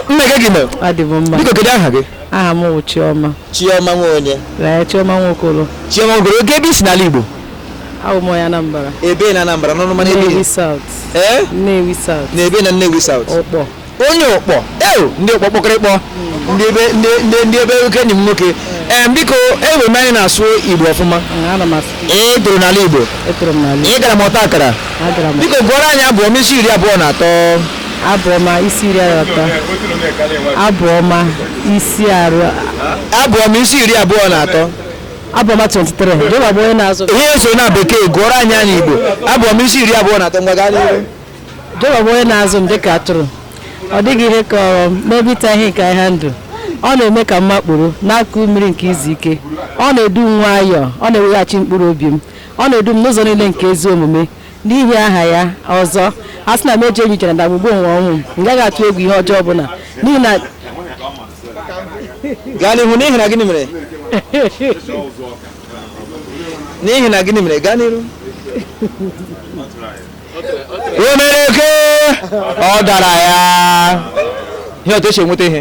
nne gị gị mere adị m mma biko kedu aha gị aha m bụ chiọma chioma nwa onye ee chiọma nwokolo chioma ogoro kee ebe i si n'ala igbo abụ m onye anambra ebe na anambra n'ọnụ mana ebe nnewi isi south ee nnewi south na ebe na nnewi south ụkpọ onye ụkpọ ewo ndị ụkpọ kpọkọrọ ịkpọ ndị ebe ndị ndị ndị ebe oke enyi m nwoke ee biko enwere m anya ị na-asụ igbo ọfụma Ee, ana m asụ i toro n'ala igbo etoro m n'ala ị gara ọta akara agara m biko gụọrọ anyị abụ ọma isi iri abụọ na atọ Abụ ọma isi iri atọ. Abụ ọma isi arụ. Abụ ọma isi iri abụọ na atọ. Abụ ọma 23. Jehova bụ onye na-azụ. Ihe eso na bekee gụọrọ anyị ya n'Igbo. Abụ ọma isi iri abụọ na atọ ngwa gaa n'ihu. Jehova bụ onye na-azụ m dịka atụrụ. Ọ dịghị ihe kọrọ m n'ebe ịta ihe nke ahịhịa ndụ. Ọ na-eme ka m makpuru n'akụkụ mmiri nke izu ike. Ọ na-edu m nwayọọ. Ọ na-eweghachi mkpụrụ obi m. Ọ na-edu m n'ụzọ niile nke ezi omume n'ihi aha ya ọzọ a sị na m eje ije na ndagwurugwu onyinyo ọnwụ m m gaghị atụ egwu ihe ọjọọ ọbụla n'ihi na gaa n'ihu n'ihi na gịnị mere n'ihi na gịnị mere gaa n'ihu o mere oke ọ dara ya ihe otu e si enweta ihe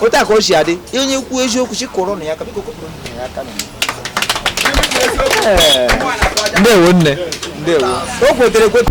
otu a ka o si adị onye kwuo eziokwu sị kụọrọ nụ ya aka biko kụọrọ nụ ya aka na ya. Ee, ndewo nne ndewo o kwetere ekweta